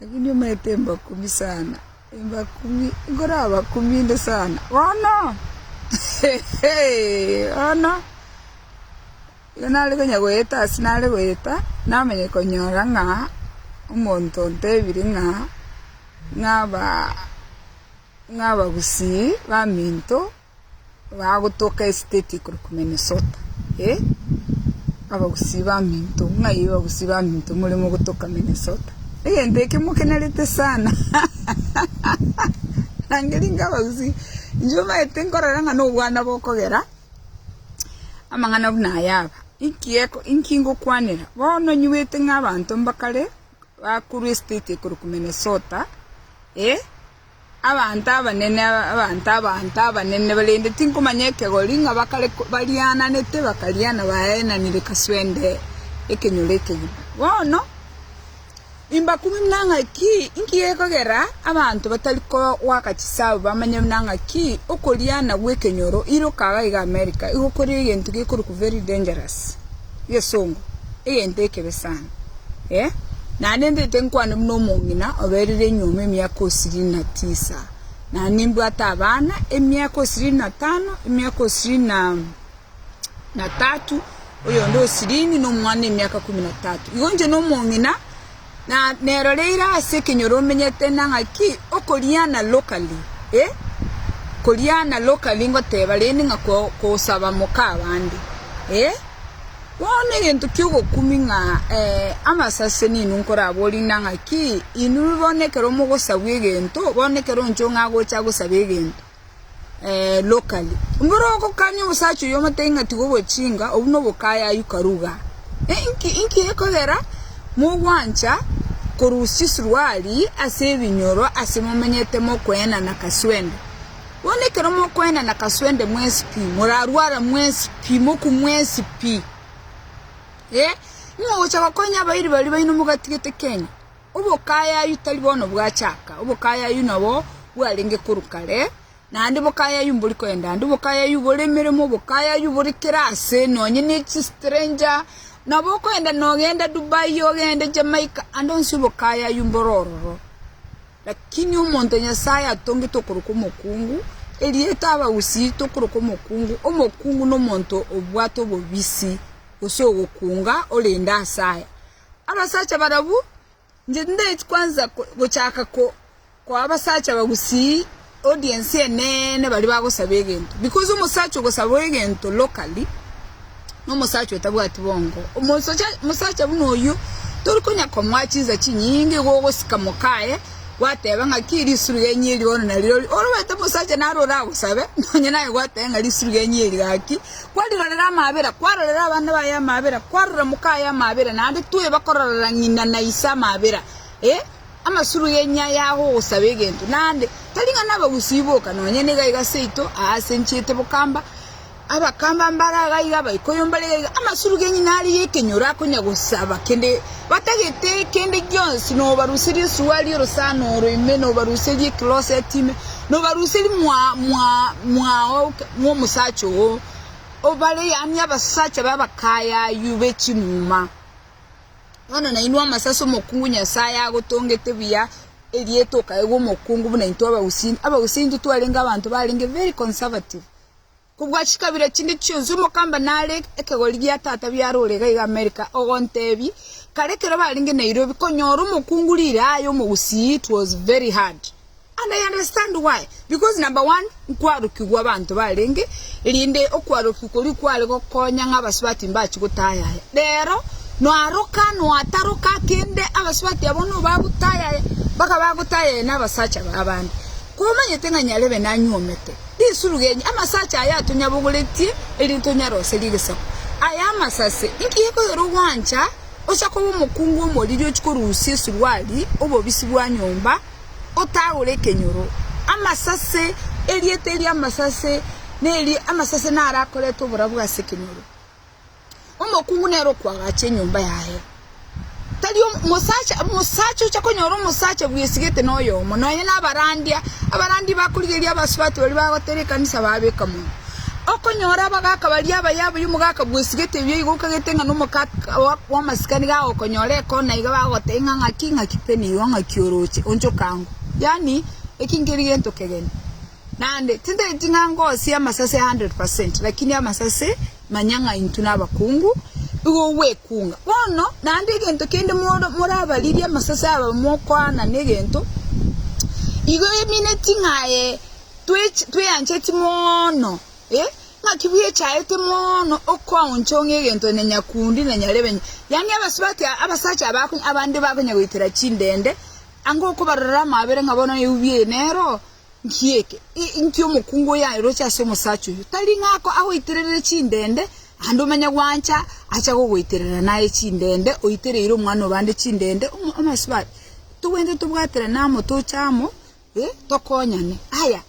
Lakini omanyete embakumi sana, embakumi, nkorabakumi inde sana, bono bono igo nare konya goeta ase nare goeta namanya konyora ng'a omonto ontebire ng'a ng'a aba ng'a abagusii baminto. Bagotoka esiteti ekorokwa Minnesota. E abagusii baminto, ng'ai abagusii baminto more mogotoka Minnesota? Egento eke mokenerete sana Rangeria inga abagusii, inche omanyete nkorora ng'a nobwana bokogera amang'ana buna aya aba. Inki eko, inki ngokwanera? Bono nyigwete ng'a abanto mbakare bakorwa esiteti ekorokwa Minnesota, e Abanto abanene, abanto, abanto abanene, korende tinkomanya ekegori, ng'a bakare bariananete, bakariana baenanire kaswende ekenyoro ekegima. Bono imbakumia buna ng'aki, inki gekogera abanto batari koaka chisaabo bamanye buna ng'aki okoriana gw'ekenyoro, iroka iga America, igo kore egento gekorokwa very dangerous. gesongo, egento ekebe sana, eh, naende ndete nkwane buna omong'ina oberire enyuoma emiaka osirini na tisa, na nimbwate abana emiaka osirini na tano, emiaka osirini na na tatu, oyonde osirini nomwana emiaka kumi na tatu, igo inche nomong'ina. Na nero reira ase ekenyoro omenyete na ng'aki okoriana locally eh koriana locally ngoteba rende ng'a kosaba moka abande eh bono egento ki'ogokumi ng'a amasase nainwe nkoraborie na ng'aki inwe bono ekero mogosabwa egento bono ekero inche ong'agocha gosaba egento. locally. Mboro ogokanya omosacha oyio omotebi ng'a tiga ogochinga, obwo na obokayayu karuga. Inki inki gekogera mogwancha korusia esuruari ase ebinyoro ase momenyete mokoenana kaswende. Bono ekero mokoenana kaswende mwensi pi, morarware mwensi pi, moku mwensi pi. Ng'a ogocha gokonya abairi baria baino mogatigete Kenya. Obokayayu tari bono bwachaka, obokayayu nabo bwarenge korwa kare, naende bokayayu mbori koenda ande, obokayayu bore emeremo, obokayayu bore kera ase, nonye ne chi stranger, nabo okoenda nogenda Dubai, ogende Jamaica, ande onsi obokayayu mboro ororo. Lakini omonto Nyasaye atongete okorokwa omokungu, erieta aba gusii tokorokwa omokungu, omokungu nomonto obwate obobisi, gose ogokunga orende ase aya. Abasacha barabwo, inche tindaeti kwansa gochaka koa abasacha bagusii audience eneene baria bagosaba egento because omosacha ogosaba egento locally, nomosacha otabwati bongo. Omosacha omosacha buna oyio, tori konya komoa chinsa chinyinge igo ogosika moka aye, gwateba ng'aki risurugenyi eri bono nari ore, ore omanyete omosacha naro oragosabe, nonya naye gwateba ng'a risurugenyi eri gaki. Kwarirorera amaabera, kwarorera abana baye amaabera, kwarora moka aye amaabera, naende toe bakororera ng'ina na ise amaabera, ee, amasuro y'enyia yao ogosaba egento, naende tari ng'a nabagusii boka, nonya nigo aiga seito aasenchiete bokamba, abakamba mbare agaiga, abaikoyo mbare gaiga, amasuro g'enyina aria y'ekenyoro akonya gosaba kende. Batagete kende gionsi, nobaruserie esuwa ri'orosana oro ime, nobaruserie ecloset ime, nobaruserie mwao bw'omosacha oo, obare yaani abasacha b'abakaaye ayio be chimuma. Bono nainwe amasase omokungu Nyasae agotongete buya, erieta okaegwa omokungu buna intwe abagusii. Abagusii intwe twarenge abanto barenge very conservative. Kobua chikabira chinde chionsi omokamba nare ekegori gia tata biarore iga iga America ogontebi kare ekero barenge Nairobi konyora omokungu rire aye omogusii it was very hard and I understand why because number one nkwarokigwa abanto barenge rinde okwarokigwa koria kware gokonya ng'a abasubati mbachi gotayaya rero nwaroka nwataroka kende abasubati abwo nobagotayaya mpaka bagotayaya na abasacha ba abande Komanyete ng'a nyarebe nanyuomete risuru genyu, amasacha aya atonyabogoretie, erinde tonyaroserie egesaku. Aya amasase, inki gekoyora ogwancha ocha koba omokungu omoriri ochia korusia esuruari, obobisi bwa nyomba, otagore ekenyoro? Amasase, erieta erio amasase, neri amasase naro akorete oborabu ase ekenyoro. Omokungu nere okoagacha enyomba yaye, tari omosacha, omosacha ocha konyora omosacha bwesigete noyomo, nonya na abarandia, abarandia bakorigereria abasubati baria bagotera ekanisa babeka mono. Okonyora abagaka baria abaye abaye omogaka bwesigete ebi igo okagete ng'a nomoka bwa- bwamasikani iga agokonyora ekona iga bagotebia ng'a ng'aki ng'aki pe nigo ng'aki oroche onchoka ango. Yaani eki nkeri gento kegeni, naende tintageti ng'a ngosie amasase hundred percent, lakini amasase Manya ng'a intwe nabakungu, igo ogwekunga bono, naende egento kende morabaririe amasase aba mokoaana negento, igo emineti ng'a aye tweancheti mono, ng'aki bwechaete mono okoaonchong'ia egento na nyakundi na nyarebe, yaani abasubati abasacha aba abande bakonyagoitera chindende, anga okobarorera amaabera ng'a bono eubie nero, Inki eke? Inki omokungu oyo aeroche ase omosacha oyio? Tari ng'a agoitererere chindende, naende omenye gwancha acha gogoiterera naye chindende, oitereire omwana o bande chindende? Omosubati, tobwenerete tobwaterane amo, toche amo, tokonyane. Aya,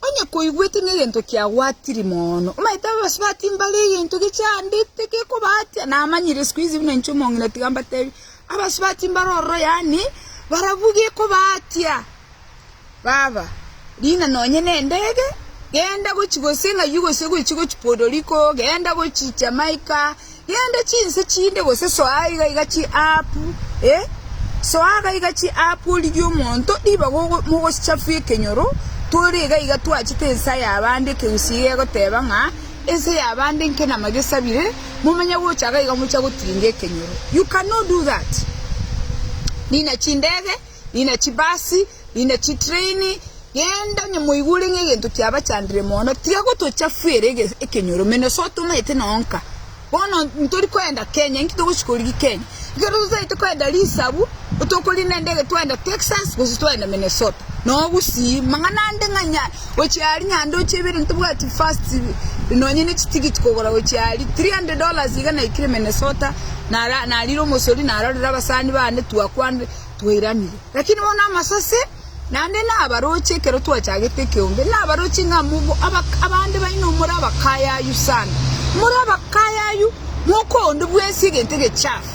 onye koigwete ng'a egento kiagwatiri mono, omanyete abasubati mbare egento gechandete gekobatia, namanyire isiko izi buna inche omong'ina tiga mbatebi, abasubati mbare ororo yaani, barabwo gekobatia. Baba, riina nonye nendege, genda gochia gose ng'ayio gose gochia gochia Podoriko, genda gochia Jamaica, genda chinse chinde gose soa iga iga chi'app, eh, soa iga iga chi'app origie omonto ribaga ogo mogochafua ekenyoro, tore iga iga twachete ense y'abande ekegusii gegoteba ng'a ense y'abande nkenama gesabire, momanye gocha iga iga mochia gotiringa ekenyoro. You cannot do that. Riina chindege. Nine chibasi, nine chitreini, genda onye moigure ng'a egento kiabachandire mono, tiga gotochafuera ekenyoromeno, ase otomanyete na onka. Bono ntori koenda Kenya, inki togosika origie Kenya? Ekero totaete koenda risabu, tokorina endege twaenda Texas gose twaenda Minnesota, noo gusii. Mang'ana ande ng'a nya, gochia aria nyande ochie ibere ntobwati first nonye ne chitigiti kogora gochia aria, three hundred dollars iga naikire Minnesota, nararire omosori narorera abasani bande twakwanire. twairanire. Lakini bono amasase, naende nabaroche ekero twachagete ekeombe, nabaroche ng'a mobe abande baino more abakayayu sana. More abakayayu, mokoonde bwesie egento egechafu.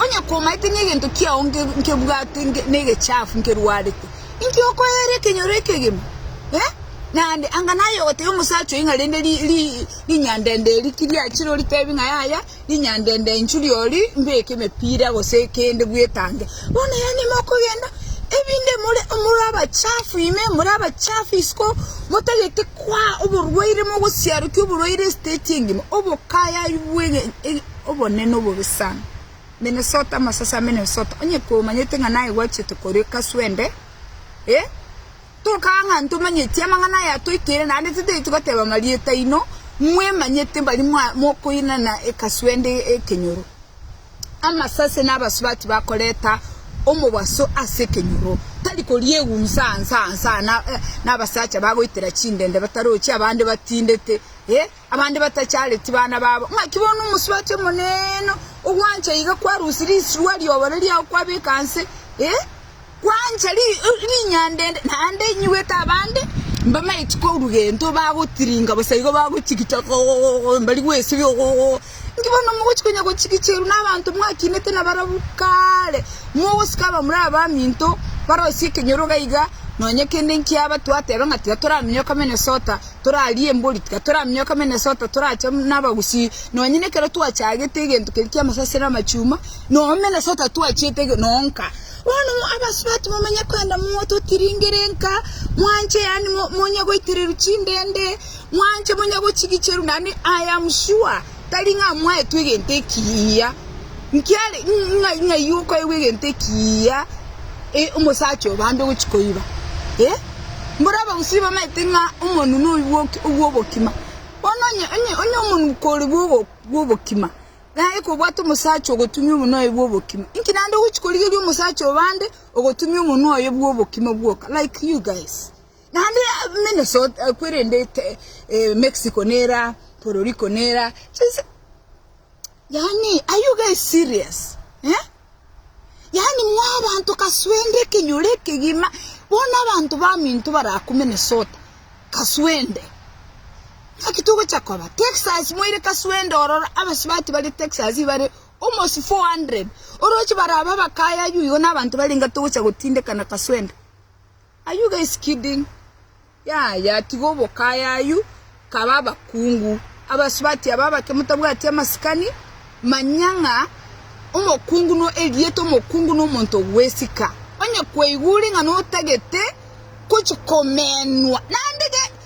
Onye komaete ng'a egento kiao nkebwate negechafu nkerwarete, inki okoeera ekenyoro ekegima? Eh, naende anga naye ogotebia omosacha oyo ng'a rende rinyandende eri ki riachire oritebi ng'a yaya. Rinyandende inchu ri'ori mbeke emepira gose kende bwetange. Bono yaani mokogenda ebinde more more abachafu ime more abachafu isiko motagete kwa oborwaire mogosiarokia oborwaire estate engima obokaya bwe obonene obobe sana. Minnesota amasasi a Minnesota onye komanyete ng'a naye gwachete kore kaswende eh. Tokaa ng'a ntomanyeti amang'ana aya atoikire, naende titaeti goteba amarieta aino, mwemanyete mbari mokoinana ekaswende ekenyoro. Amasase na abasubati bakoreta omobaso ase ekenyoro, tari koriegunsa ansa ansa, na abasacha bagoitera chindende batarochi abande batindete, ee. Abande batachareti bana babo, ng'aki bono omosubati omonene ogwancha iga kwarusia risirwa ri'obore riao kwabeka nse, ee, kwancha rinyanda ende, naende inyigwete abande mbamaeti korwa gento bagotiringa bosa igo bagochigita ogogogogo mbari gwesibia ogogogogo. Inki bono mogochia konya gochigicherwa nabanto mwakinete nabarabwo kare, mogosika abamura abaminto barosie ekenyoro iga iga, nonya kende nkiaba twateba ng'a tiga toramenyoka Minnesota, torarie embori, tiga toraminyoka Minnesota, torache nabagusii, nonyene ekero twachagete egento keria kia amasasi na amachuma, noo Minnesota twachiete ege noo nka. Bono abasubati momanye koenda moto otiringere nka, mwanche yaani monye goitererwa chindende, mwanche monye gochigicherwa naende I am sure. tari ng'a mwaetwe egento ekiya, nkiare ng'a ng'ai okoegwa egento ekiya omosacha oyo bande ogochia koiba? Eh, mboro abagusii bamaete ng'a omonwe noyo bwoki obw'obokima. Bono onye onye onye omonuko ore bwogo bw'obokima, naye kobwate omosacha ogotumia omonwe oye bw'obokima, inki naende ogochia korigeria omosacha oyo bande ogotumia omonwe oye bw'obokima bwoka like you guys. Naende Minnesota kwerendete Mexico nera Puerto Rico nera chinse yaani are you guys serious eh? yaani mwa abanto kaswende ekenyoro ekegima bono abanto baminto baraku Minnesota kaswende naki togocha koba Texas moire kaswende ororo abasibati bare Texas bare almost 400 oroche baraba abakaya aywo igo na abanto barenge togocha gotindekana kaswende Are you guys kidding? Yaya, tiga obokaya ayio, kaba abakungu. Abasubati aba abake motabwati amasikani, manya ng'a omokungu no erieta, omokungu no omonto ogwesika. Onye kweigure ng'a notagete gochi komenwa, naende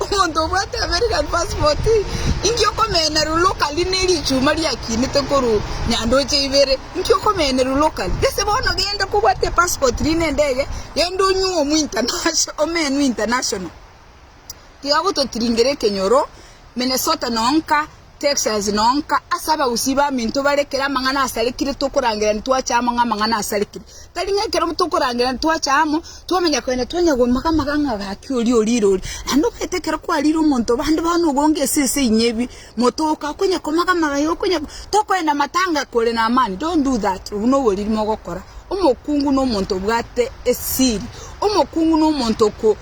Omonto obwate American passport, inki okomenya ru locally ne richuma riakinete koru nyandoche ibere? Inki okomenya ru locally? Gese bono genda kobwate passport rinde endege, genda onyuo omu internation, omenwe international. Tiga gototiringera ekenyoro, Minnesota noo nka, Texas nonka ase abagusii baminto bare ekero amang'ana asarekire tokorangerania twache amo ng'a amang'ana asarekire. Tari ng'a ekero tokorangerania twache amo twamanya kogenda twanya gomoga moga ng'a gaki oria orire oria. Naende omanyete ekero kwarire omonto bande bono obonge ase ense inyebi motoka okonya komoga moga iga okonya tokoenda matanga kore na amani don't do that obwo na oboriri mogokora. Omokungu na omonto obwate esiri. Omokungu na omonto oko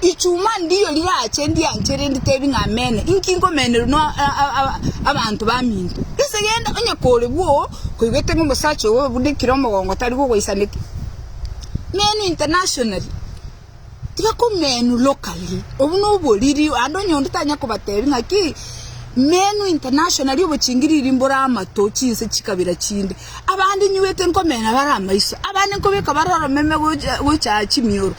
Ichuma ndiyo rirache ndianchere nditebi ng'a Amen, inki nkomenerwa n'abanto baminto? Gese genda onye kore bwo koigwete ng'a omosacha oyo obunekire omogongo tari kogoisaneti. Menu internationally, tiga komenu locally, obu noboriri, ande onye onde tanya kobatebi ng'a ki, menu internationally obochingiriri mbore amato chinse chikabira chinde. Abande nyiwete nkomena bare amaiso, abande nkobeka bare oromeme gocha chimioro.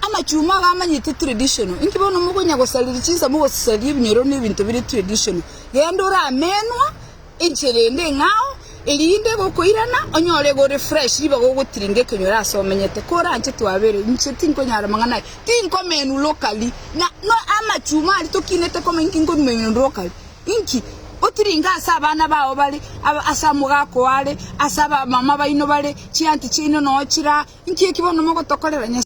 Amachuma iga amanyete traditional. Inki bono mokonya gosareria chinsa mogosaria ebinyoro ne ebinto bire traditional. Genda ore amenwa enchera ende eng'ao erinde egokoirana onyore iga ore fresh ribaga ogotiringa ekenyoro ase omenyete. Koranche twabere inche tinkonyara amang'ana aya. Tinkomenwa locally na no amachuma aria tokinete komenya inki nkomenwa locally. Inki? Otiringe ase abana bao bare aba ase omogaka oare ase abamama baino bare chianti chiaino nochira inki eki bono mogotokorera nyas.